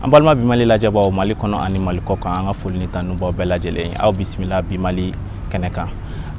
an balima bi mali lajɛbaaw mali kɔnɔ ani mali kɔ kan an ka foli ni tanu b'aw bɛɛ lajɛlen ye aw bisimila bi mali kɛnɛ kan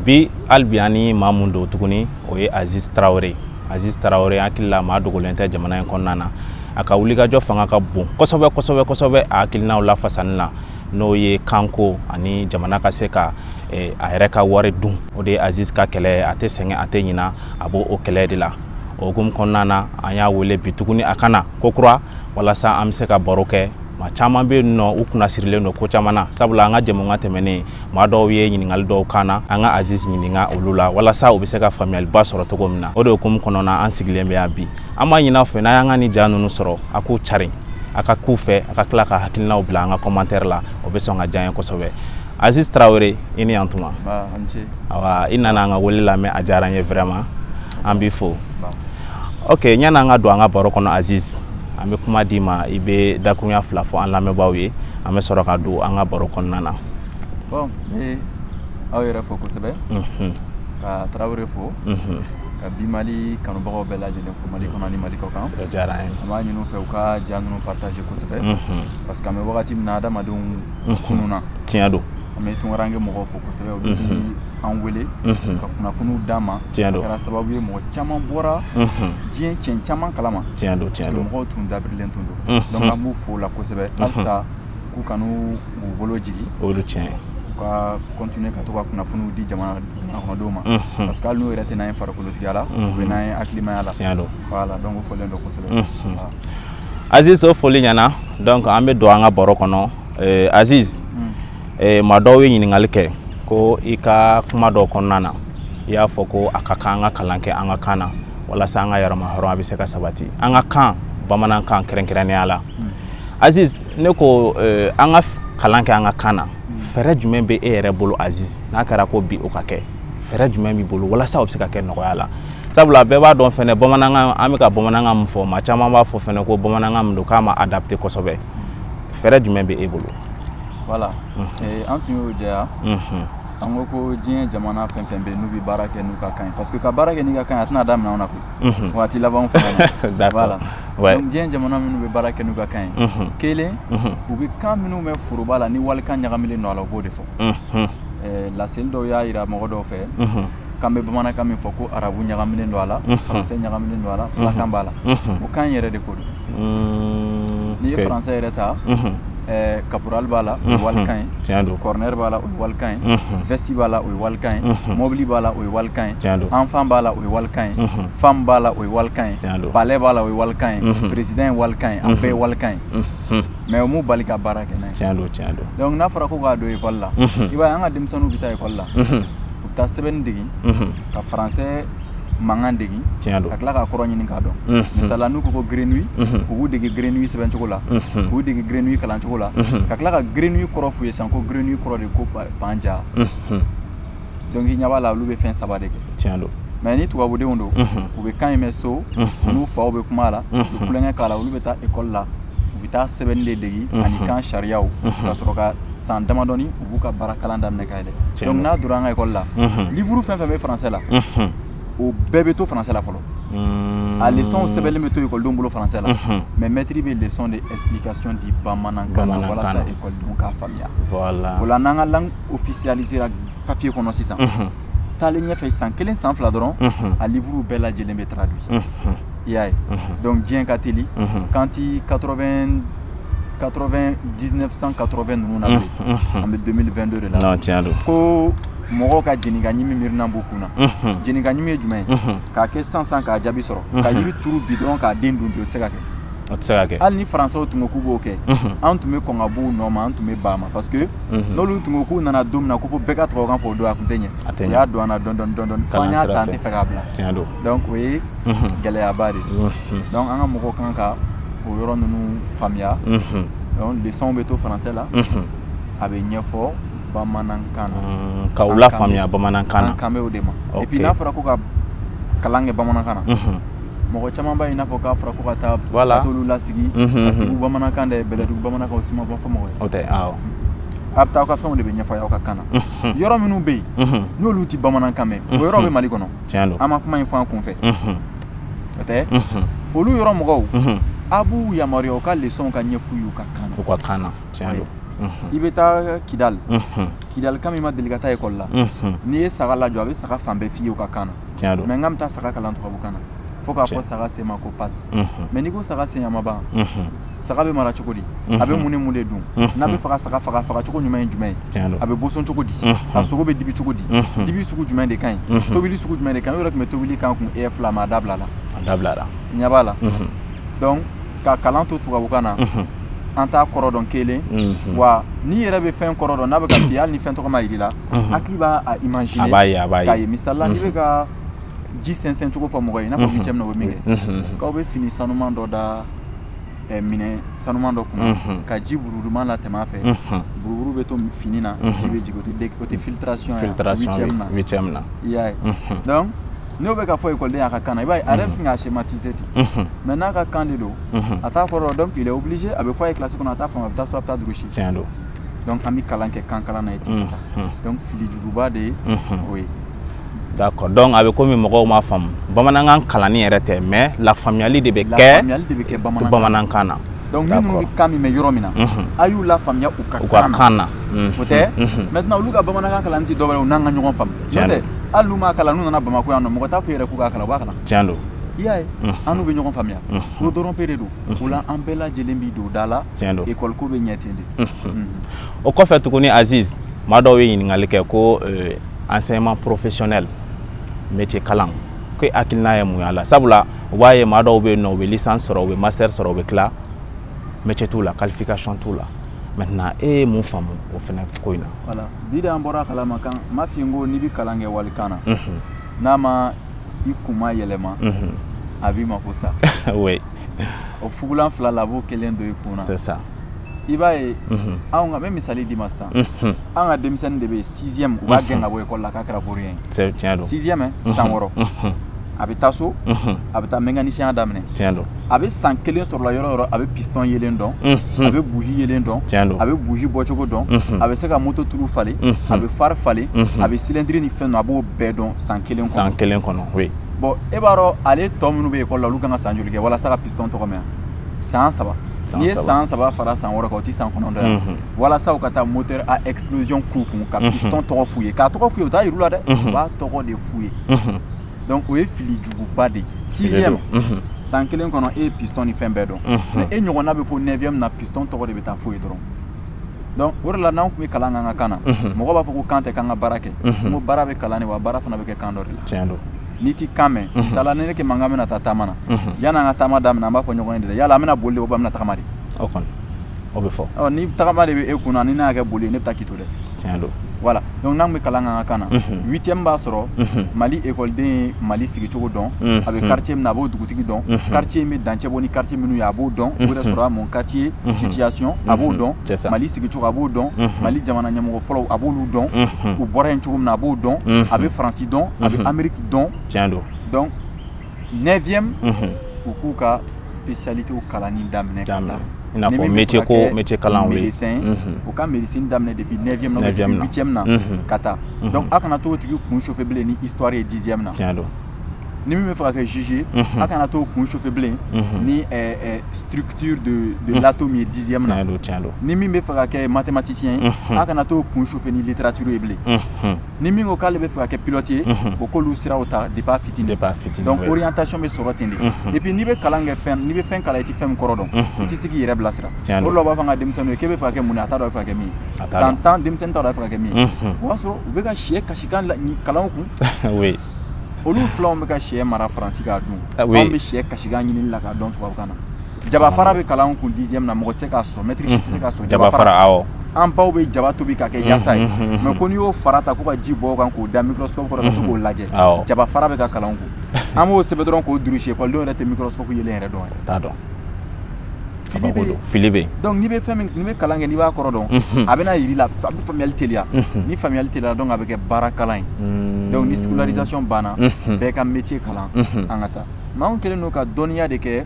bi hali bi an ni maa mun don tuguni o ye aziz tarawele aziz tarawele hakili la maa dogolen tɛ jamana in kɔnɔna na a ka wulikajɔ fanga ka bon kosɛbɛ kosɛbɛ kosɛbɛ a hakilinaw lafasani la n'o ye kanko ani jamana ka se ka eh, a yɛrɛ ka wari dun o de ye aziz ka kɛlɛ a tɛ sɛgɛn a tɛ ɲina a b'o kɛlɛ de la o hukumu kɔnɔna na an y'a wele bi tuguni a ka na kokura walasa an bɛ se ka baro kɛ maa caman bɛ yen nɔ u kunna sirilen don ko caman na sabula an ka jɛmukan tɛmɛnen maa dɔw ye ɲininkali dɔw kan na an ka aziz ɲininka olu la walasa u bɛ se ka faamuyaliba sɔrɔ cogo min na o de hukumu kɔnɔna an sigilen bɛ yan bi an b'a ɲin'a fɛ n'a y'an ka nin ja ninnu sɔrɔ a k'u cari a ka k'u fɛ a ka tila ka hakilinaw bila an ka kɔmantɛri la o bɛ sɔn ka diya n ye kosɛbɛ aziz tarawele i ni yantuma awa i nana an ka wele lamɛn a diyara an ye vraiment an b'i fo ok ɲani an ka don an ka baro kɔnɔ aziz an bɛ kuma d'i ma i bɛ dakurunya fila fɔ an lamɛnbaaw ye an bɛ sɔrɔ ka don an ka baro kɔnɔna na bon n ye aw yɛrɛ fo kosɛbɛ mhm. ka tarawele fo mhm. ka bi mali kanubagaw bɛɛ lajɛlen fo mali kɔnɔ ni mali kɔ kan an b'a ɲini u fɛ u ka ja ninnu partager kosɛbɛ mhm. parce que an bɛ wagati min na adamadenw kununna tiɲɛ don an bɛ tunkaranke mɔgɔw fo kosɛbɛ olu bɛ an wele ka kunnafoniw d'an ma tiɲɛ don a kɛra sababu ye mɔgɔ caman bɔra diɲɛ cɛn caman kalama tiɲɛ don tiɲɛ don mɔgɔw tun dabirilen tun don donc an b'u fo la kosɛbɛ halisa k'u kan'u bolo jigi o de tiɲɛ u ka continuer ka to ka kunnafoniw di jamana kɔnɔdenw ma parce que hali n'u yɛrɛ tɛ n'an ye farikolotigiya la u bɛ n'an ye hakilimaya la tiɲɛ don voilà donc o fɔlen don kosɛbɛ Aziz o foli ɲɛna donc an bɛ don an ka baro kɔnɔ Aziz eh, maa dɔw ye ɲininkali kɛ ko i ka kuma dɔ kɔnɔna na i y'a fɔ ko a ka kan an ka kalan kɛ an ka kan na walasa an ka yɛrɛmahɔrɔnya bɛ se ka sabati an ka kan bamanankan kɛrɛnkɛrɛnnenya la hmm. aziz ne ko eh, an ka kalan kɛ an ka kan na hmm. fɛɛrɛ jumɛn bɛ e yɛrɛ bolo aziz n'a kɛra ko bi o ka kɛ fɛɛrɛ jumɛn b'i bolo walasa o bɛ se ka kɛ nɔgɔya la sabula bɛɛ b'a dɔn fɛnɛ bamanankan an bɛ ka bamanankan min fɔ maa caman b'a fɔ fɛnɛ ko bamanankan min don k'a ma adapté kosɛbɛ fɛɛrɛ jumɛn bɛ e bolo voilà eh, an tun y'o jɛya an ko ko diɲɛ jamana fɛn fɛn bɛ n'u bɛ baara kɛ n'u ka kan ye parce que ka baara kɛ n'i ka kan ye a tɛna daminɛ anw na koyi waati labanw fana na voilà donc diɲɛ jamana minnu bɛ baara kɛ n'u ka kan ye kelen u bɛ kan minnu bɛ foroba la ni walikan ɲagaminen don a la u b'o de fɔ eh, laseli dɔw y'a jira mɔgɔ dɔw fɛ k'an bɛ bamanankan min fɔ ko arabu ɲagaminen don a la français ɲagaminen don a la fulakan b'a la o kan yɛrɛ de ko don Mm, N'i ye okay. français yɛrɛ ta mhm. eh, caporal b'a la o ye walikan ye tiɲɛ don corner b'a la o ye walikan ye vesti b'a la o ye walikan ye mobili b'a la o ye walikan ye tiɲɛ don enfant b'a la o ye walikan ye femme b'a la o ye walikan ye tiɲɛ don palais b'a la o ye walikan ye président ye walikan ye a bɛɛ ye walikan ye mais o m'u bali ka baara kɛ n'a ye tiɲɛ don tiɲɛ don donc n'a fɔra ko k'a don école la i b'a ye an ka denmisɛnninw bɛ taa école la u bɛ taa sɛbɛnni dege ka français mankan degi tiɲɛ don ka tila k'a kɔrɔ ɲini k'a dɔn misala n'u ko ko grenouille u b'u dege grenouille sɛbɛncogo la k'u dege grenouille kalancogo la ka tila ka grenouille kɔrɔ f'u ye san ko grenouille kɔrɔ de ko panja donc i ɲɛ b'a la olu bɛ fɛn saba de kɛ tiɲɛ don mais ni tubabudenw don u bɛ kan in mɛn so u n'u faw bɛ kuma la u bɛ tulonkɛ k'a la olu bɛ taa école la u bɛ taa sɛbɛnni de degi ani kan sariyaw ka sɔrɔ ka san damadɔni u ka baara kalan daminɛ ka yɛlɛ donc n'a donna an ka école la livre fɛn fɛn bɛ français la o bɛɛ bɛ to français la fɔlɔ hmm. a leçon sɛbɛnlen bɛ to ekɔlidenw bolo français la mais maître bɛ leçon de explication di bamanankan na walasa ekɔlidenw k'a faamuya o la n'an ka langue officialisera papier kɔnɔ sisan taalen ɲɛfɛ san kelen san fila dɔrɔn a livre bɛɛ lajɛlen bɛ traduit i y'a ye donc diɲɛ ka teli k'an tɛ 80 1980 ninnu na bilen an bɛ 2022 de la tiɲɛ don ko mɔgɔw ka jenikaɲimi miirina b'u kun na jenikaɲimi ye jumɛn ye k'a kɛ sisan k'a jaabi sɔrɔ ka yiri turu bi dɔrɔn k'a den dun bi o tɛ se ka kɛ o tɛ se ka kɛ hali ni faransɛw tun ko k'u b'o kɛ an tun bɛ kɔn ka b'u nɔ ma an tun bɛ ban a ma parce que n'olu tun ko k'u nana don min na ko fo bɛɛ ka tubabukan fɔ o don a tun tɛ ɲɛ a tɛ ɲɛ u y'a don an na dɔɔni dɔɔni dɔɔni dɔɔni f'an y'a ta an tɛ fɛ k'a bila tiɲɛ don donc o ye gɛlɛyaba de donc an ka mɔgɔw kan ka o yɔrɔ ninnu faamuya donc leçon bɛ to français la a bɛ ɲɛfɔ bamanankan na ka u lafaamuya bamanankan na an kan bɛ o de ma et puis n'a fɔra ko ka kalan kɛ bamanankan na mɔgɔ caman b'a ye i n'a fɔ k'a fɔra ko ka taa ka t'olu lasigi ka segu bamanankan dege bɛlɛdugu bamanankan o si ma fɔ fɔ mɔgɔ ye o tɛ awɔ a bɛ taa aw ka fɛnw de bɛ ɲɛfɔ aw ka kan na yɔrɔ minnu bɛ yen n'olu tɛ bamanankan mɛn o yɔrɔ bɛ mali kɔnɔ tiɲɛ don an ma kuma in fɔ an kun fɛ o tɛ olu yɔrɔ mɔgɔw a b'u yamaruya u ka leçonw ka ɲɛf'u y'u ka kan u ka kan na tiɲɛ don i bɛ taa kidali kidalika min ma deli ka taa école la n'i ye saga lajɔ a bɛ saga fan bɛɛ f'i ye u ka kan na tiɲɛ don mais n ka bɛ taa saga kalan tubabukan na fo k'a fɔ saga sen ma ko patte mais n'i ko saga sen a ma ban saga bɛ mara cogo di a bɛ mun ni mun de dun n'a bɛ faga saga faga faga cogo ɲuman ye jumɛn ye a bɛ boson cogo di a sogo bɛ dibi cogo di dibi sugu jumɛn de ka ɲi tobili sugu jumɛn de ka ɲi o yɛrɛ tun bɛ tobili kan kun e fila ma a dabila la a dabila la ɲɛ b'a la donc ka kalan to tubabukan na an t'a kɔrɔ dɔn kelen wa n'i yɛrɛ bɛ fɛn kɔrɔ dɔn n'a bɛ ka f'i ye hali ni fɛn tɔgɔ ma yir'i la hakili b'a a imaginer k'a ye misali la n'i bɛ ka ji sɛnsɛn cogo fɔ mɔgɔ ye i n'a fɔ huitième na o bɛ min kɛ k'aw bɛ fini sanuman dɔ da Eh, minɛ sanuman dɔ kunna mhm. ka ji buruduman latɛmɛ a fɛ mhm. buruburu bɛ to fini na mhm. ji bɛ jigin o tɛ filtration ye huitième na i y'a ye donc n'o bɛ ka fɔ ekɔliden y'a ka kan na i b'a ye a yɛrɛ bɛ sin k'a schématiser ten mais n'a ka kan de don a t'a kɔrɔ donc il est obligé a bɛ fɔ a ye classe kɔnɔ a t'a faamu a bɛ taa so a bɛ taa durusi tiɲɛ don donc an bɛ kalan kɛ kan kalan na ye ten ka taa donc filijuguba de ye o ye D'accord. Donc a bɛ komi mɔgɔw m'a faamu. Bamanankan kalanni yɛrɛ tɛ mais lafaamuyali de bɛ kɛ. Lafaamuyali de bɛ kɛ bamanankan. Bamanankan na. Donc ni minnu bɛ kan min mɛn yɔrɔ min na. A y'u lafaamuya u ka kan na. U ka kan na. O tɛ. Maintenant olu ka bamanankan kalanni tɛ dɔwɛrɛ ye u n'an ka ɲɔgɔn faamu. Tiɲɛ don. Hali n'u m'a kalan n'u nana Bamakɔ yan nɔ mɔgɔ t'a f'u ye yɛrɛ k'u k'a kalan u b'a kalan. Tiɲɛ don. I y'a ye. An n'u bɛ ɲɔgɔn faamuya. O dɔrɔn pe de don. O la an bɛɛ lajɛlen b'i don da la. Tiɲɛ don. École ko bɛ ɲɛ ten de. O kɔfɛ tuguni Aziz maa dɔw ye ɲininkali kɛ ko enseignement professionnel métier kalan ko hakilina ye mun y'a la sabula u b'a ye maa dɔw bɛ yen nɔ u bɛ licence sɔrɔ u bɛ master sɔrɔ u bɛ tila métier t'u la qualification t'u la maintenant e ye mun faamu o fana ko in na. voilà bi de an bɔr'a kalama kan n m'a f'i ye n ko n'i bɛ kalan kɛ walikan na. n'a ma i kun ma yɛlɛma. a b'i mako sa. oui. o fugulan fila la a b'o kelen don i kun na. c'est ça. i b'a ye anw ka n bɛ misali d'i ma sisan an ka denmisɛnnin de bɛ yen sixième u b'a gɛn ka bɔ ekɔli la k'a kɛra vaurien ye tiɲɛ don sixième san wɔɔrɔ a bɛ taa so a bɛ taa mécanicien daminɛ tiɲɛ don a bɛ san kelen sɔrɔ a la yɔrɔ o yɔrɔ a bɛ piston yelen dɔn a bɛ buji yelen dɔn tiɲɛ don a bɛ buji bɔcogo dɔn a bɛ se ka moto tulu falen a bɛ phare falen a bɛ cylindre ni fɛn dɔn a b'o bɛɛ dɔn san kelen kɔnɔ san kelen kɔnɔ oui bon e b'a dɔn ale tɔ minnu bɛ ekɔli la olu kan ka san joli kɛ walasa ka piston tɔgɔ mɛn san saba n'i ye san saba fara san wɔɔrɔ kan o tɛ san kɔnɔntɔn ye mhm. walasa u ka taa moteur à explosion k'u kun ka mhm. piston tɔgɔ f'u ye k'a tɔgɔ f'u ye u t'a yir'u la dɛ mhm. u b'a tɔgɔ de f'u ye donc o ye fili juguba de ye sixième san kelen kɔnɔ e ye piston ni fɛn bɛɛ dɔn mais e ɲɔgɔnna bɛ fo neuvième na piston tɔgɔ de bɛ taa f'u ye dɔrɔn donc o de la n'an tun bɛ kalan k'an ka kan na mɔgɔ b'a fɔ ko kan tɛ k'an ka baara kɛ n ko baara bɛ kalan de wa baara fana bɛ kɛ kan dɔ de la tiɲɛ don n'i t'i kan mɛn misali la ni ne kɛ Makan bɛna taa taama na mhm. yanni an ka taama daminɛ an b'a fɔ ɲɔgɔn ye de yala an bɛna boli de ou bien an bɛna tagama de o kɔni o bɛ fɔ ɔ ni tagama de bɛ e kunna ni ne y'a kɛ boli ye ne bɛ taa k'i to dɛ tiɲɛ don voilà donc n'an bɛ kalan k'an ka kan na mhm. huitième b'a sɔrɔ mali ekɔliden ye mali sigicogo dɔn a bɛ quartier min na a b'o dugutigi dɔn quartier in bɛ dancɛ bɔ ni quartier minnu ye a b'o dɔn o yɛrɛ sɔrɔ a mun quartier situation a b'o dɔn mali sigicogo a b'o dɔn mali jamana ɲɛmɔgɔ fɔlɔw a b'olu dɔn u bɔra yen cogo min na a b'o dɔn a bɛ faransi dɔn a bɛ ameriki dɔn tiɲɛ don donc neuvième u k'u ka spécialité kalanni daminɛ ka taa i n'a fɔ métier ko métier kalan oui médecin u ka médecine daminɛ depuis 9e na 8e na ka taa donc a kana to o tigi kun chauffer bilen ni histoire ye 10e na tiɲɛ don ni min bɛ fɛ ka kɛ juge ye mhm. a kana t'o kun chauffer bilen mhm. ni eh, eh, structure de de mhm. l'atome ye dixième na ni min bɛ fɛ ka kɛ mathématicien ye a kana t'o kun chauffer ni littérature ye bilen ni min ko k'ale bɛ fɛ ka kɛ pilote ye o k'olu siraw ta depuis a fitini donc orientation bɛ sɔrɔ ten de et puis n'i bɛ kalan kɛ fɛn n'i bɛ fɛn kalan i tɛ fɛn min kɔrɔ dɔn i tɛ se k'i yɛrɛ bilasira o de la u b'a fɔ an ka denmisɛnninw ye k'e bɛ fɛ ka kɛ mun ye a t'a dɔn a bɛ fɛ ka kɛ min ye san tan denmisɛnnin t'a dɔn a bɛ fɛ ka kɛ min ye o b'a sɔrɔ u bɛ ka sɛ kasikan kalan u kun olu filanw bɛ ka sɛ mara faransi k'a dun ah anw bɛ sɛ kasikan ɲinini la k'a dɔn tubabukan na jabafara bɛ kalan kun dixième na mɔgɔ tɛ se k'a sɔsɔ mɛtiri si tɛ se k'a sɔsɔ jabafara awɔ an baw bɛ jaba tobi ka kɛ yasa ye mais ko n'i y'o fara ta ko ka ji bɔn o kan k'o da microscope kɔrɔ ka to k'o lajɛ jabafara bɛ ka kalan kun an b'o sɛbɛn dɔrɔn k'o durusi ekɔlidenw yɛrɛ tɛ microscope yelen yɛrɛ dɔn yɛrɛ t'a dɔn fili bɛ yen fili bɛ yen donc n'i bɛ fɛn min n'i bɛ kalan kɛ n'i b'a kɔrɔ dɔn a bɛna yir'i la a bɛ faamuyali teliya ni faamuyali teliya donc a bɛ kɛ baara kalan ye donc ni scolarisation banna bɛɛ ka métier kalan an ka taa mais anw kɛlen don ka dɔnniya de kɛ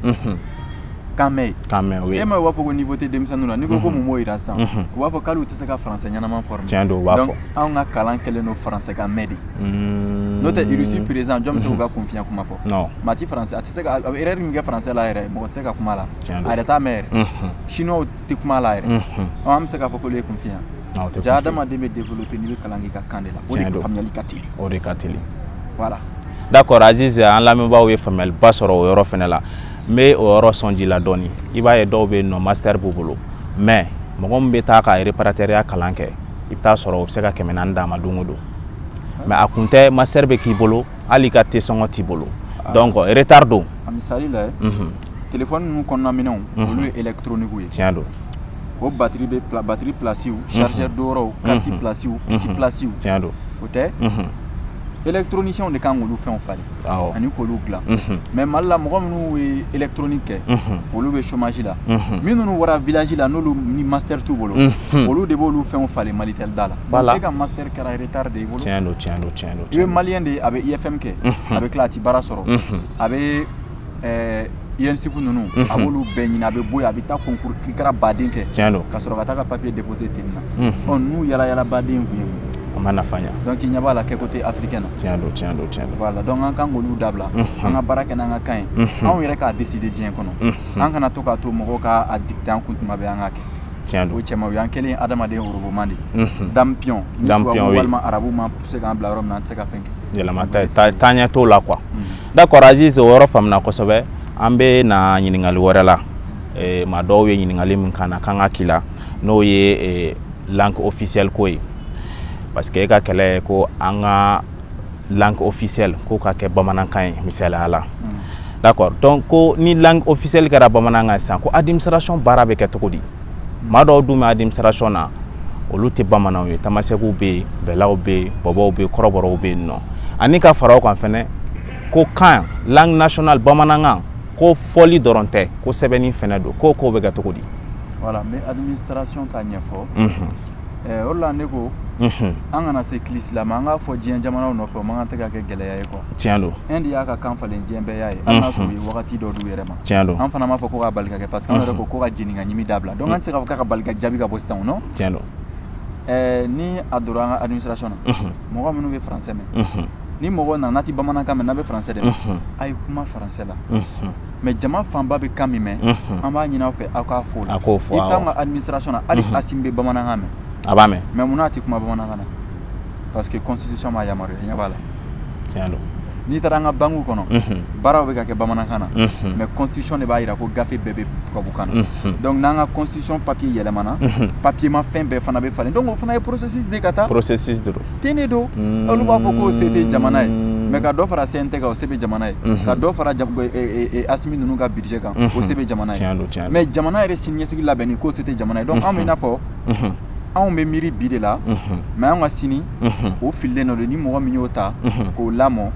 kan mɛn ye kan mɛn o ye e ma u b'a fɔ ko niveau tɛ denmisɛnninw na n'i ko ko mun b'o yira sisan u b'a fɔ k'olu tɛ se ka français ɲɛnama former tiɲɛ don u b'a fɔ anw ka kalan kɛlen don français kan mɛn de n'o tɛ irisi président jɔn bɛ se k'u ka kunfinya kuma fɔ non maa ti français a tɛ se ka a bɛ erreur min kɛ français la yɛrɛ mɔgɔ tɛ se ka kuma la a yɛrɛ t'a mɛn yɛrɛ chinois tɛ kuma la yɛrɛ an bɛ se k'a fɔ k'olu ye kunfin ye ja adamaden bɛ développer n'i bɛ kalan k'i ka kan de la o de faamuyali ka teli o de ka teli voilà d'accord Aziz an lamɛnbaaw ye faamuyaliba sɔrɔ o yɔrɔ fɛnɛ la n bɛ o yɔrɔ sɔn ji la dɔɔni i b'a ye dɔw bɛ yen nɔ master b'u bolo mais mɔgɔ min bɛ taa ka réparateurya kalan kɛ i bɛ taa sɔrɔ o bɛ se ka kɛmɛ naani d'a ma don o don mais a kun tɛ master bɛ k'i bolo hali i ka te sɔngɔ t'i bolo ah. donc retard don a misali la mhm. telefɔni ninnu kɔnɔna minɛnw mhm. olu ye électronique ye tiɲɛ don o batiri bɛ batiri pilasiw mhm. chargeur donyɔrɔw kariti pilasiw pisi pilasiw tiɲɛ don o tɛ électroniciens de ka kan k'olu fɛnw falen ani k'olu dilan mais mali la mɔgɔ minnu ye électronique kɛ olu bɛ chômage la minnu bɔra village la n'olu ni master t'u bolo olu de b'olu fɛnw falen malitel da la e ka master kɛra retard de y'e bolo tiɲɛ don tiɲɛ don i bɛ maliyɛn de ye a bɛ IFM kɛ a bɛ tila a ti baara sɔrɔ a bɛ ENSUP ninnu a b'olu bɛɛ ɲini a bɛ bɔ yen a bɛ taa concours kirikara baden kɛ tiɲɛ don ka sɔrɔ ka taa ka papier déposer ten nin na ɔ n'u yala yala baden kun ye mun a ma nafa ɲa donc i ɲɛ b'a la kɛko tɛ africain na tiɲɛ don tiɲɛ don tiɲɛ don voilà donc an kan k'olu dabila an ka baara kɛ n'an ka kan ye anw yɛrɛ k'a décider diɲɛ kɔnɔ an kana to k'a to mɔgɔw ka a dicter an kun tuma bɛɛ an k'a kɛ tiɲɛ don o cɛma o y'an kɛlen ye adamaden oroboman de dame pion ni tubabu walima arabu m'an pousser k'an bila yɔrɔ min na an tɛ se ka fɛn kɛ yɛlɛma taaɲɛ t'o la quoi d'accord Aziz o yɔrɔ faamuna kosɛbɛ an bɛ na ɲininkali wɛrɛ la eh, maa dɔw ye ɲininkali min k'an na k'an k'a k'i la n'o ye eh, langue officielle ko ye parce que e ka kɛlɛ ye ko an ka langue officielle ko ka kɛ bamanankan ye misali la mm. d'accord donc ko ni langue officielle kɛra bamanankan sisan ko administration baara bɛ kɛ cogo di maa dɔw dun bɛ administration na olu tɛ bamananw ye tamasɛkiw bɛ yen bɛlaw bɛ yen bɔbɔw bɛ yen kɔrɔbɔrɔw bɛ yen nɔ ani ka fara o kan fɛnɛ ko kan langue nationale bamanankan ko fɔli dɔrɔn tɛ ko sɛbɛnni fɛnɛ don ko o bɛ kɛ cogo di voilà n bɛ administration ta ɲɛfɔ eh, o la ne ko mhm. an kana se kilisila ma an k'a fɔ diɲɛ jamanaw nɔfɛ o man kan tɛ ka kɛ gɛlɛya ye quoi tiɲɛ don Inde y'a ka kan falen diɲɛ bɛɛ y'a ye a n'a sɔrɔ u ye wagati dɔ d'u yɛrɛ ma tiɲɛ don an fana m'a fɔ ko k'a bali ka kɛ parce que an yɛrɛ ko ko ka jeni ka ɲimi dabila donc an tɛ se k'a fɔ k'a ka bali ka jaabi ka bɔ sisan nɔ tiɲɛ don eh, ni a donna an ka administration na mɔgɔ minnu bɛ français mɛn ni mɔgɔ nana n'a tɛ bamanankan mɛn n'a bɛ français de mɛn a ye kuma français la mais jama fanba bɛ kan min mɛn an b'a ɲinin aw fɛ aw k'a fɔ i taa an ka administration na hali Assimi bɛ bamanankan mɛn a b'a mɛn mais mun n'a tɛ kuma bamanankan na parce que constitution m'a yamaruya ɲɛ b'a la tiɲɛ don n'i taara an ka bankiw kɔnɔ baaraw bɛ ka kɛ bamanankan na mais constitution de b'a jira ko gafe bɛɛ bɛ tubabukan na donc n'an ka constitution papier yɛlɛmana papierma fɛn bɛɛ fana bɛ falen donc o fana ye processus de ka taa processus de don ten de don olu b'a fɔ k'o se tɛ jamana ye mais ka dɔ fara CNT kan o se bɛ jamana ye ka dɔ fara Assimi ninnu ka budget kan o se bɛ jamana ye mais jamana yɛrɛ siniɲɛsigi labɛnni k'o se tɛ jamana ye donc anw bɛ i n'a fɔ anw bɛ miiri bi de la mais anw ka sini o fililen dɔ don ni mɔgɔ min y'o ta k'o lamɔ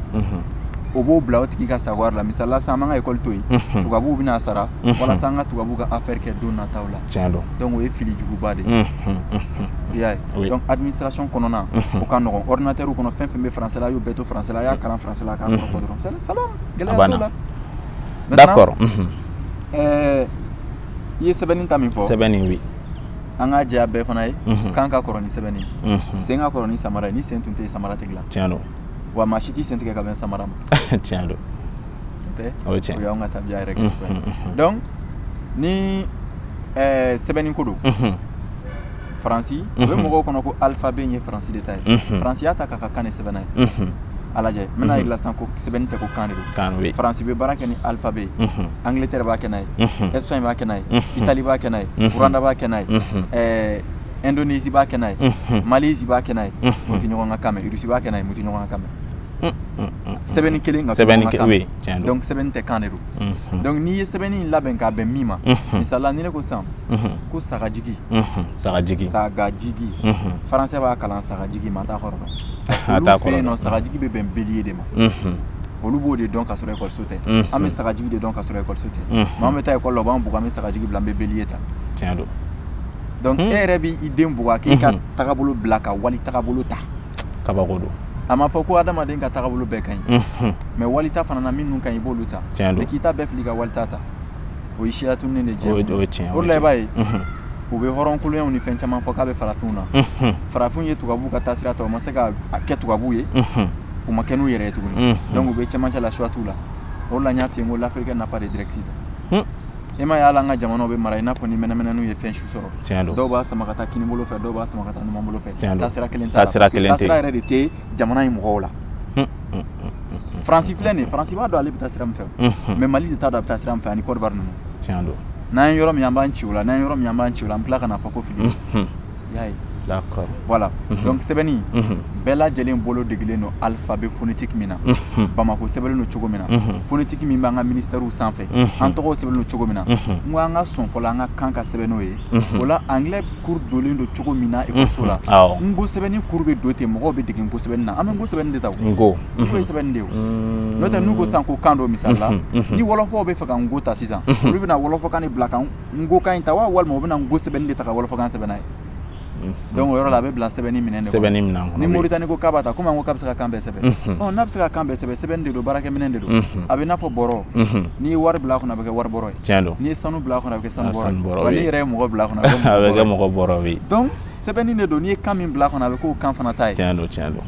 o b'o bila o tigi ka sago la misali la sisan an b'an ka école to yen tubabuw bɛn'a sara walasa an ka tubabuw ka affaire kɛ don nataw la tiɲɛ don donc o ye fili juguba de ye i y'a ye donc administration kɔnɔna o ka nɔgɔn ordinateur kɔnɔ fɛn o fɛn bɛ français la a y'o bɛɛ to français la a y'a kalan français la a k'a kɔrɔ fɔ dɔrɔn c'est salam gɛlɛya t'o la d'accord ɛɛ i ye sɛbɛnni ta min fɔ sɛbɛnni oui an k'a jɛya bɛɛ fana ye kan ka kɔrɔ ni sɛbɛnni ye sen ka kɔrɔ ni samara ye ni sen tun tɛ yen samara tɛ dilan tiɲɛ don wa maa si t'i sen tigɛ ka bɛn samara ma tiɲɛ don tɛ o ye tiɲɛ o y'anw ka tabiya yɛrɛ kɛ cogoya ye donc ni ɛɛ sɛbɛnni ko don faransi o bɛ mɔgɔw kɔnɔ ko alphabet in ye faransi de ta ye faransi y'a ta k'a ka kan de sɛbɛn n'a ye a lajɛ n bɛn'a yira i la sisan ko sɛbɛnni tɛ ko kan de don faransi bɛ baara kɛ ni alphabet ye angletɛri b'a kɛ n'a ye espagne b'a kɛ n'a ye itali b'a kɛ n'a ye rwanda b'a kɛ n'a ye ɛɛ indonésie b'a kɛ n'a ye mhm. malaisie b'a kɛ n'a ye mhm. mais u tɛ ɲɔgɔn ka kan mɛn russie b'a kɛ n'a ye mais u tɛ ɲɔgɔn ka kan mɛn mhm. sɛbɛnni kelen ka sɛbɛnni ka kan donc sɛbɛnni tɛ kan de don donc n'i ye sɛbɛnni in labɛn k'a bɛn min ma misali la ni ne ko sisan ko sagajigi sagajigi sagajigi français b'a kalan sagajigi mais a t'a kɔrɔ dɔn olu fɛ yen nɔ sagajigi bɛ bɛn bélier de ma olu b'o de dɔn ka sɔrɔ ekɔliso tɛ an bɛ sagajigi de dɔn ka sɔrɔ ekɔliso tɛ mais an bɛ taa ekɔli la u b'an bugɔ an bɛ sagajigi bila an bɛ bélier ta tiɲɛ don donc e yɛrɛ bɛ i den bugɔ k'i ka tagabolo bila ka wali tagabolo ta kabako don a ma fɔ ko adamaden ka tagabolo bɛɛ ka ɲi mais wali ta fana na minnu ka ɲi i b'olu ta mais k'i ta bɛɛ fili ka wali ta ta o ye siya tununi de ye o la i b'a ye u bɛ hɔrɔnkoloyaw ni fɛn caman fɔ k'a bɛ farafinw na farafinw ye tubabuw ka taasira ta u ma se ka kɛ tubabuw ye u ma kɛ n'u yɛrɛ ye tuguni donc u bɛ cɛmancɛ la choix t'u la o la n y'a f'i ye n ko l'afrique n'a pas de directive e m'a ye hali an ka jamanaw bɛ mara i n'a fɔ ni mɛnɛmɛnɛninw ye fɛn su sɔrɔ tiɲɛ don dɔw b'a sama ka taa kini bolo fɛ dɔw b'a sama ka taa numan bolo fɛ tiɲɛ don taasira kelen t'a la taasira kelen tɛ taasira yɛrɛ de tɛ jamana in mɔgɔw la faransi filɛ nin ye faransi b'a dɔn ale bɛ taa sira min fɛ mais mali de t'a dɔn a bɛ taa sira min fɛ ani côte d'ivoire ninnu tiɲɛ don n'an ye yɔrɔ min an b'an ci o la n'an ye yɔrɔ min an b'an ci o la an bɛ tila ka n'a fɔ ko fili voilà donc sɛbɛnni bɛɛ lajɛlen bolo degelen don alphabet phonétique min na bamakɔ sɛbɛnlen don cogo min na phonétique min b'an ka minisitɛriw sanfɛ an tɔgɔw sɛbɛnlen don cogo min na n ko an ka sɔn fɔlɔ an ka kan ka sɛbɛn n'o ye o la anglais cours donlen don cogo min na ekɔliso la n ko sɛbɛnni cours bɛ don ten mɔgɔw bɛ dege n ko sɛbɛnni na an bɛ n ko sɛbɛnni de ta n ko o ye sɛbɛnni de ye n'o tɛ n'u ko san ko kan dɔ misali la ni wɔlɔfɔw bɛ fɛ ka n ko ta sisan olu bɛna wɔlɔfɔkan de bila kan n ko kan in ta wa walima u bɛna n ko sɛbɛnni de ta ka wɔlɔfɔkan sɛbɛn n'a ye donc o yɔrɔ la a bɛ bila sɛbɛnni minɛn de sɛbɛnni minɛn kɔnɔ ni moritani ko k'a b'a ta komi an ko k'a bɛ se ka kan bɛɛ sɛbɛn ɔ n'a bɛ se ka kan bɛɛ sɛbɛn sɛbɛnni de don baarakɛ minɛn de don a bɛ i n'a fɔ bɔrɔ n'i ye wari bila a kɔnɔ a bɛ kɛ wari bɔrɔ ye tiɲɛ don n'i ye sanu bila a kɔnɔ a bɛ kɛ sanu bɔrɔ ye wa n'i yɛrɛ ye mɔgɔ bila a kɔnɔ a bɛ kɛ mɔgɔ bɔrɔ ye donc sɛbɛnni de don n'i ye kan min bila a kɔnɔ a bɛ k'o kan fana ta ye tiɲɛ don tiɲɛ don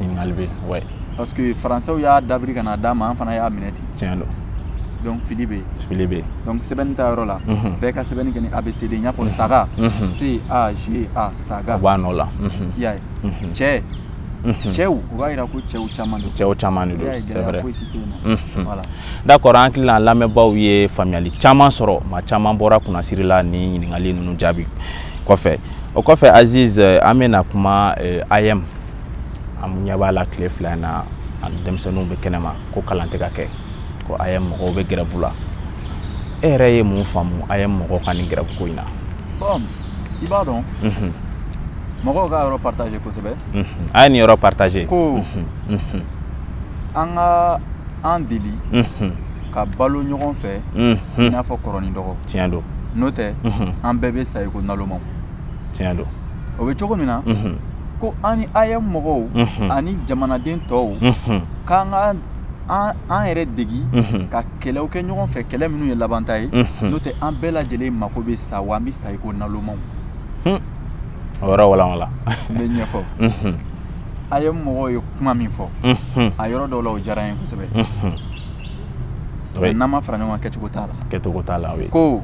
ɲininkali bɛ yen parce que faransɛw y'a dabiri ka na d'an ma an fana y'a minɛ ten tiɲɛ don donc fili bɛ yen fili bɛ yen donc sɛbɛnni ta yɔrɔ la mhm. bɛɛ ka sɛbɛnni kɛ ni abcd n y'a fɔ mhm. saga mhm. c a g a saga a b'a nɔ la i y'a ye cɛ cɛw o b'a jira ko cɛw caman don cɛw caman de don c'est vrai voilà d'accord an hakili la an lamɛnbaaw ye faamuyali caman sɔrɔ maa caman bɔra kunnasiri la ni ɲininkali ninnu jaabi kɔfɛ o kɔfɛ aziz eh, an bɛna kuma eh, am an ɲɛ b'a la tile fila in na an denmisɛnninw bɛ kɛnɛma ko kalan tɛ ka kɛ ko AEEM mɔgɔw bɛ gɛrɛfu la e yɛrɛ ye mun faamu AEEM mɔgɔw ka nin gɛrɛfu ko in na bon i b'a dɔn mhm. mɔgɔw ka yɔrɔ partager kosɛbɛ mhm. a ye nin yɔrɔ partager ko mhm. an ka an deli ka balo ɲɔgɔn fɛ i n'a fɔ kɔrɔ ni dɔgɔ tiɲɛ don n'o tɛ an bɛɛ bɛ sa i ko nalomaw tiɲɛ don o bɛ cogo min na ko an ni AEEM mɔgɔw ani jamanaden tɔw k'an ka an yɛrɛ degi ka kɛlɛw kɛ ɲɔgɔn fɛ kɛlɛ minnu ye labanta ye n'o tɛ an bɛɛ lajɛlen mako bɛ sa wa an bɛ sa i ko nalomaw o yɔrɔ walawala n bɛ ɲɛfɔ AEEM mɔgɔw ye kuma min fɔ a yɔrɔ dɔw la o diyara n ye kosɛbɛ n'an ma fara ɲɔgɔn kan kɛcogo t'a la kɛcogo t'a la ko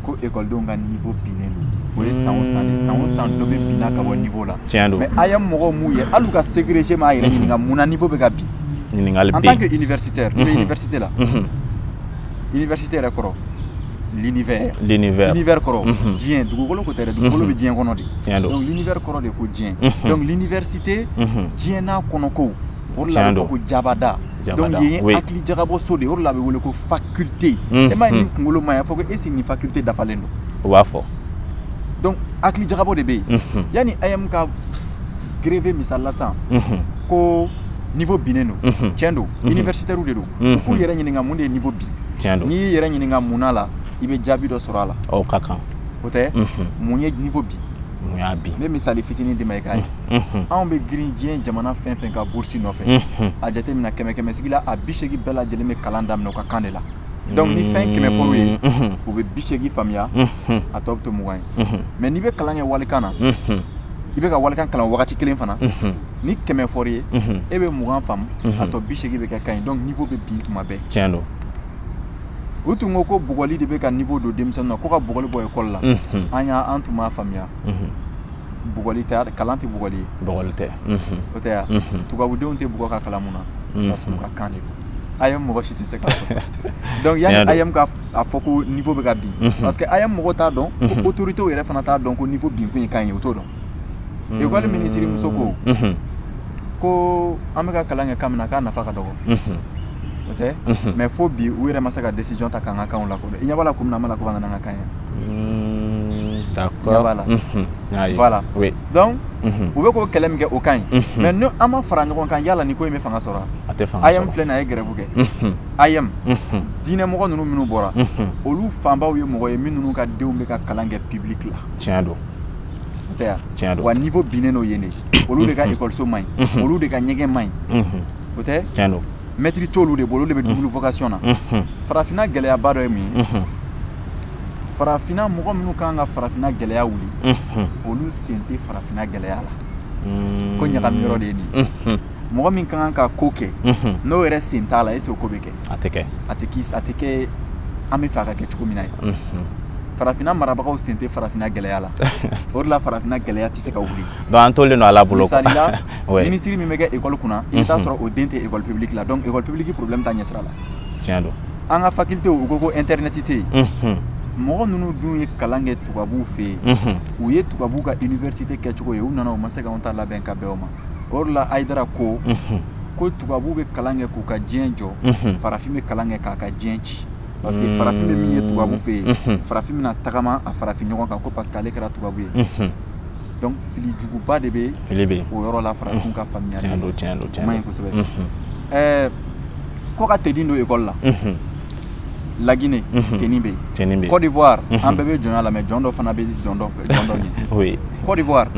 ko ekɔlidenw ka niveau binnen don o ye san o san de san o san dɔ bɛ binna ka bɔ niveau la tiɲɛ don mais AEEM mɔgɔw m'u yɛrɛ hali u ka segreje m'a yɛrɛ ɲininka mun na niveau bɛ ka bin ɲininkali bɛ en tant que universitaire ne bɛ université la université yɛrɛ kɔrɔ l'univers l'univers l'univers kɔrɔ diɲɛ dugukolo ko tɛ dɛ dugukolo bɛ diɲɛ kɔnɔ de tiɲɛ don donc l'univers kɔrɔ de ko diɲɛ donc l'université diɲɛ n'a kɔnɔkow o de la a bɛ fɔ ko jabada hakili jagabɔ so de ye o de la a bɛ wele ko faculté e m'a ye n'i kunkolo ma ɲɛ a fɔ ko est-ce que nin faculté dafalen don o b'a fɔ donc hakili jagabɔ de bɛ yen yanni AEEM ka grève misali la sisan ko niveau binnen don cɛn don universitaires de don k'u yɛrɛ ɲininka mun de ye niveau bin n'i y'i yɛrɛ ɲininka mun na i bɛ jaabi dɔ sɔrɔ a la o ka kan o tɛ mun ye niveau bin mun y'a bin n bɛ misali fitinin d'i ma i k'a ye anw bɛ girin diɲɛ jamana fɛn fɛn ka burusi nɔfɛ a jateminɛ kɛmɛ kɛmɛ sigi la a bi seegin bɛɛ lajɛlen bɛ kalan daminɛ u ka kan de la donc ni fɛn kɛmɛ fɔr'u ye u bɛ bi seegin faamuya a tɔ bɛ to mugan ye mais n'i bɛ kalan kɛ walikan na i bɛ ka walikan kalan wagati kelen fana ni kɛmɛ fɔr'i ye e bɛ mugan faamu a tɔ bi seegin bɛ kɛ kan ye donc niveau bɛ bin tuma bɛɛ tiɲɛ don u tun ko ko bugɔli de bɛ ka niveau don denmisɛnninw na ko ka bugɔli bɔ ekɔli la an y'a an tun b'a faamuya bugɔli tɛ kalan tɛ bugɔli ye bugɔli tɛ o tɛ ya tubabudenw tɛ bugɔ ka kalan mun na parce que u ka kan de don AEEM mɔgɔ si tɛ se k'a fɔ donc yanni AEEM ka a fɔ ko niveau bɛ ka bin parce que AEEM mɔgɔ t'a dɔn ko autorités yɛrɛ fana t'a dɔn ko niveau binkun ye kan ye u t'o dɔn ekɔli minisiri muso ko ko an bɛ ka kalan kɛ kan min na k'a nafa ka dɔgɔ o tɛ mais fo bi u yɛrɛ ma se ka décision ta k'an ka kanw lakodɔn i ɲɛ b'a la ko min na an ma la ko ka na n'an ka kan ye d'accord voilà voilà oui donc u bɛ k'o kɛlɛ min kɛ o ka ɲi mais ni an ma fara ɲɔgɔn kan yala ni ko in bɛ fanga sɔrɔ a tɛ fanga sɔrɔ AEEM filɛ nin ye a ye grève kɛ AEEM diinɛmɔgɔ ninnu minnu bɔra olu fanbaw ye mɔgɔw ye minnu ka denw bɛ ka kalan kɛ public la tiɲɛ don wa niveau binnen n'o ye de olu de ka ekɔliso man ɲi olu de ka ɲɛgɛn man ɲi o tɛ mɛtiri t'olu de bolo olu de bɛ double vocation na farafinna gɛlɛyaba dɔ ye min ye farafinna mɔgɔ minnu kan ka farafinna gɛlɛya wuli olu sen tɛ farafinna gɛlɛya la ko ɲagami yɔrɔ de ye nin ye mɔgɔ min ka kan ka ko kɛ n'o yɛrɛ sen t'a la est-ce que o bɛ kɛ a tɛ kɛ a tɛ a tɛ kɛ an b'a fɛ a ka kɛ cogo min na ye farafinna marabagaw sen tɛ farafinna gɛlɛya la o de la farafinna gɛlɛya tɛ se ka wuli donc an tolen don ala bolo misali la minisiri min bɛ kɛ ekɔli kunna i bɛ taa sɔrɔ o den tɛ ekɔli publique la donc ekɔli publique problème t'a ɲɛsira la tiɲɛ don an ka faculté u ko ko internet tɛ yen mɔgɔ ninnu dun ye kalan kɛ tubabuw fɛ yen u ye tubabuw ka université kɛcogo ye u nana u ma se k'anw ta labɛn ka bɛn o ma o de la hayidara ko ko tubabu bɛ kalan kɛ k'u ka diɲɛ jɔ farafin bɛ kalan kɛ k'a ka diɲɛ ci parce que mm. farafin bɛ min ye tubabu fɛ yen mm-hmm. farafin bɛna tagama a farafin ɲɔgɔn kan ko parce que ale kɛra tubabu ye mm-hmm. donc fili juguba de bɛ fili bɛ o yɔrɔ la farafin ka mm-hmm. faamuya tiɲɛ don tiɲɛ don tiɲɛ don o man ɲi kosɛbɛ ɛɛ ko ka teni don ekɔli la lagine teni bɛ yen côte d'ivoire an bɛɛ bɛ jɔnya la mais jɔn dɔ fana bɛ jɔn dɔ ɲɛ côte d'ivoire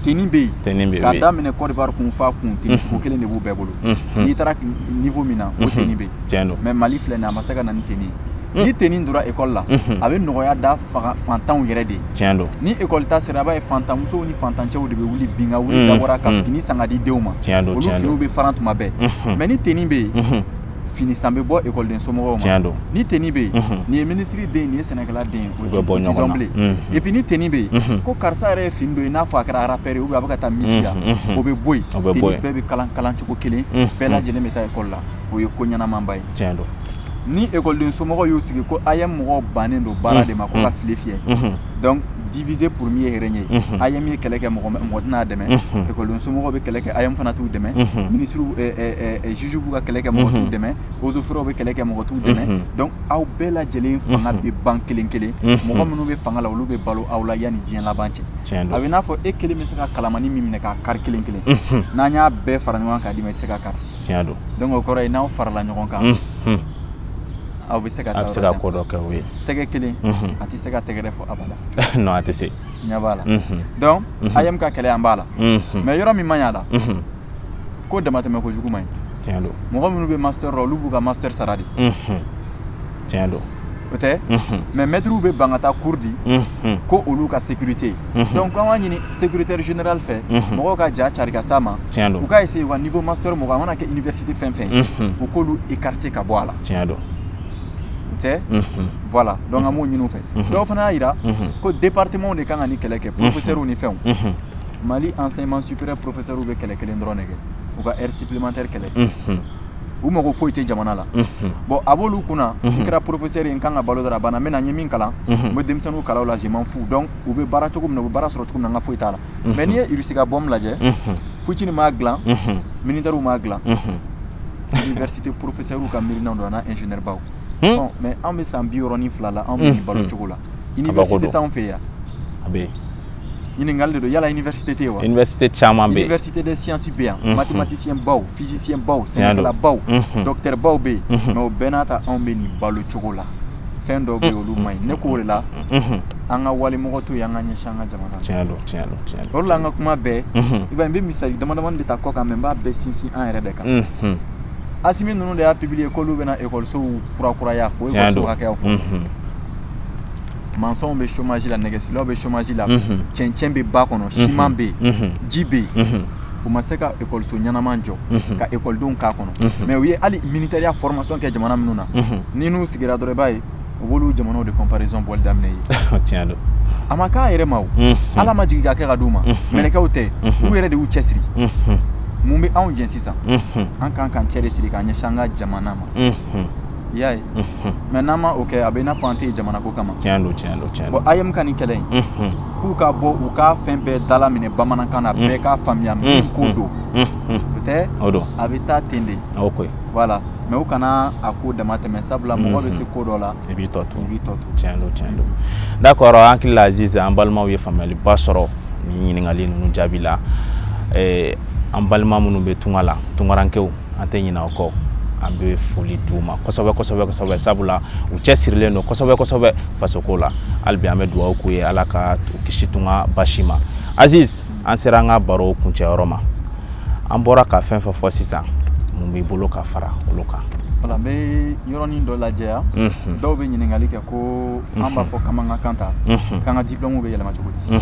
teni bɛ yen k'a daminɛ côte d'ivoire kun f'a kun teni sugu kelen de b'u bɛɛ bolo n'i taara niveau min na o teni bɛ yen mais mali filɛ nin a ma se ka na ni teni ye ni teni dora ekɔli la a bɛ nɔgɔya da fantanw yɛrɛ de ye ni ekɔli ta sera i b'a ye fantanmusow ni fantancɛw de bɛ wuli bin ka wuli dabɔra ka fini san k'a di denw ma olu finiw bɛ faran tuma bɛɛ mais ni teni bɛ yen fini san bɛ bɔ ekɔliden somɔgɔw ma tiɲɛ don ni teni bɛ yen nin ye minisiri den nin ye sɛnɛkɛla den o tɛ dɔn bilen et puis ni teni bɛ yen ko karisa yɛrɛ ye fini don i n'a fɔ a kɛra rappeur ye ou bien a bɛ ka taa misi la o bɛ bɔ yen teni bɛɛ bɛ kalan kalan cogo kelen bɛɛ lajɛlen bɛ taa ekɔli la o ye ko ɲɛnamaba ye tiɲɛ don ni ekɔliden somɔgɔw y'u sigi ko AEEM mɔgɔw bannen don baara de ma ko ka file fiyɛ donc diviser pour mieux régner AEEM ye kɛlɛ kɛ mɔgɔ tɛn'a dɛmɛ ekɔliden somɔgɔw bɛ kɛlɛ kɛ AEEM fana t'u dɛmɛ minisiriw juge b'u ka kɛlɛ kɛ mɔgɔ t'u dɛmɛ eaux et forêts bɛ kɛlɛ kɛ mɔgɔ t'u dɛmɛ donc aw bɛɛ lajɛlen fanga bɛ ban kelen kelen mɔgɔ minnu bɛ fanga la olu bɛ balo aw la yanni diɲɛ laban cɛ a bɛ n'a fɔ e kelen bɛ se ka kalamani min minɛ k'a kari kelen kelen n'an y'a bɛɛ fara ɲɔgɔn kan k'a d'i ma i tɛ se k'a kari donc o kɔrɔ ye n'aw farala ɲɔgɔn kan aw bɛ se ka taa a bɛ se ka ko dɔ kɛ o ye tɛgɛ kelen mhm. a tɛ se ka tɛgɛrɛ fɔ abada non a tɛ se ɲɛ b'a la mhm. donc mhm. AEEM ka kɛlɛ an b'a la mais yɔrɔ min man ɲi a la ko damatɛmɛ kojugu man ɲi tiɲɛ don mɔgɔ minnu bɛ master la olu b'u ka master sara de tiɲɛ don o tɛ mais mɛtiriw bɛ ban ka taa cours di ko olu ka sécurité donc an b'a ɲini secrétaire général fɛ mɔgɔw ka ja cari ka s'a ma u ka essayer u ka niveau master mɔgɔ a mana kɛ université fɛn fɛn ye u k'olu écarter ka bɔ a la tiɲɛ don u tɛ voilà donc an b'o ɲini u fɛ dɔw fana y'a yira ko département de kan ka nin kɛlɛ kɛ professeurs ni fɛnw mali enseignement supérieur professeurs bɛ kɛlɛ kelen dɔrɔn de kɛ u ka heure supplémentaire kɛlɛ u mago foyi tɛ jamana la bon a b'olu kunna n kɛra porofesɛri ye n kan ka balo dɔrɔn a banna n bɛ na n ye min kalan n bɛ denmisɛnninw kalan o la je m'en fous donc u bɛ baara cogo min na u bɛ baara sɔrɔ cogo min na n ka foyi t'a la mais n'i ye irisi ka bombe lajɛ putini m'a dilan militɛriw m'a dilan université porofesɛriw ka miirinaw don a n'a ingénieur baw mais an bɛ san bi wɔɔrɔ ni fila la anw bɛ nin balo cogo la université t'anw fɛ yan a bɛ yen ɲininkali de don yala université tɛ yen wa université caman bɛ yen université des sciences bɛ yan mhm. mathématicien baw physicien baw sɛnɛkɛla baw mhm. docteur baw bɛ yen mhm. mais o bɛɛ n'a ta anw bɛ nin balo cogo la fɛn dɔw bɛ yen olu man ɲi ne k'o de la an ka walimɔgɔ to yen an ka ɲɛsin an ka jamana ma tiɲɛ don tiɲɛ don tiɲɛ don o de la an ka kuma bɛɛ i b'a ye n bɛ misali damadamanin de ta kɔ kan mais n b'a bɛɛ sinsin an yɛrɛ de kan asimi ninnu de y'a publier k'olu bɛna ekɔlisow kurakuraya k'o ekɔliso hakɛyaw fɔ mansɔnw bɛ chômage la nɛgɛsilaw bɛ chômage la cɛncɛn bɛ ba kɔnɔ siman bɛ yen ji bɛ yen u ma se ka ekɔliso ɲɛnama jɔ ka ekɔlidenw k'a kɔnɔ mais u ye hali militɛriya formation kɛ jamana minnu na n'i n'u sigira dɔrɔn i b'a ye u b'olu jamanaw de comparaison bɔli daminɛ ye tiɲɛ don a ma k'a yɛrɛ ma o ala ma jigin k'a kɛ k'a d'u ma mɛlɛkɛw tɛ u yɛrɛ de y'u cɛsiri mun bɛ anw jɛ sisan an kan k'an cɛ de siri k'an ɲɛsin an ka jamana ma i y'a ye mais n'an ma o kɛ a bɛ i n'a fɔ an tɛ jamana ko kama tiɲɛ don tiɲɛ don tiɲɛ don bon AEEM ka nin kɛlɛ in k'u ka bɔ u ka fɛn bɛɛ dalaminɛ bamanankan na bɛɛ k'a faamuya min ko don o tɛ o don a bɛ taa ten de o koyi voilà mais u kana a ko damatɛmɛ sabula mɔgɔ bɛ se ko dɔ la i b'i tɔ to i b'i tɔ to tiɲɛ don tiɲɛ don d'accord an hakili la aziz an balimaw ye faamuyaliba sɔrɔ nin ɲininkali ninnu jaabi la an balima minnu bɛ tunga la tungarankew an tɛ ɲinɛ u kɔ an bɛ foli d'u ma kosɛbɛ kosɛbɛ kosɛbɛ sabula u cɛsirilen don kosɛbɛ kosɛbɛ fasoko la hali bi an bɛ dugawu k'u ye ala ka u kisi tunga basi ma aziz an sera an ka baro kuncɛyɔrɔ ma an bɔra ka fɛn fɛn fɔ sisan mun b'i bolo ka fara olu kan voilà n bɛ yɔrɔnin dɔ lajɛya mhm. dɔw bɛ ɲininkali kɛ ko an b'a mhm. fɔ k'an b'an ka kan ta mhm. k'an ka diplɔmu bɛ yɛlɛma cogo di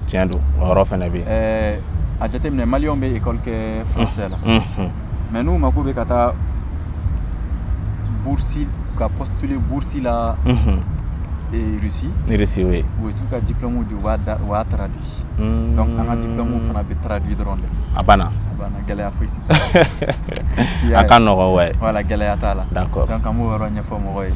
tiɲɛ don o yɔrɔ fana bɛ yen ɛɛ a jateminɛ maliyɛnw bɛ ekɔli kɛ faransɛ la mais n'u mako bɛ ka taa bursi ka postuler bursi la Russie. Russie, oui. U t'u ka diplôme di u b'a traduit. Hmm. Donc, an ka diplôme fana bɛ traduit dɔrɔn de. A banna. A banna, gɛlɛya fosi. A ka nɔgɔ, ouais. Voilà, gɛlɛya t'a la. D'accord. Donc, an b'o yɔrɔ ɲɛfɔ mɔgɔ ye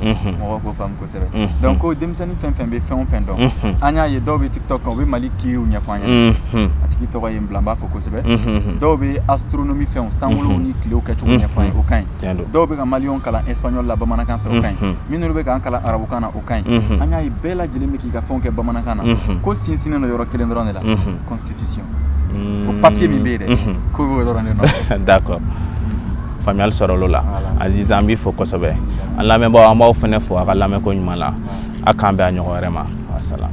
kosɛbɛ donc ko denmisɛnnin fɛn fɛn bɛ fɛn o fɛn dɔn an y'a ye dɔw bɛ tiktok kan u bɛ mali kiiriw ɲɛfɔ an ye a tigi tɔgɔ ye n bila n b'a fo kosɛbɛ dɔw bɛ astronomi fɛnw sankolow ni tilew kɛcogo ɲɛfɔ an ye o ka ɲi dɔw bɛ ka maliyɛnw kalan espagnol la bamanankan fɛ o ka ɲi minnu bɛ k'an kalan arabukan na o ka ɲi an y'a ye bɛɛ lajɛlen bɛ k'i ka fɛnw kɛ bamanankan na ko sinsinnen don yɔrɔ kelen dɔrɔn de la constitution o papiye min bɛ yen dɛ k'o bɛ o dɔrɔn de nɔ d'accord faamuyali sɔrɔl'o la aziz an b'i fo kosɛbɛ an lamɛnbaaw an b'aw fana fo a ka lamɛnko ɲuman na a k'an bɛn a ɲɔgɔn wɛrɛ ma wasalaam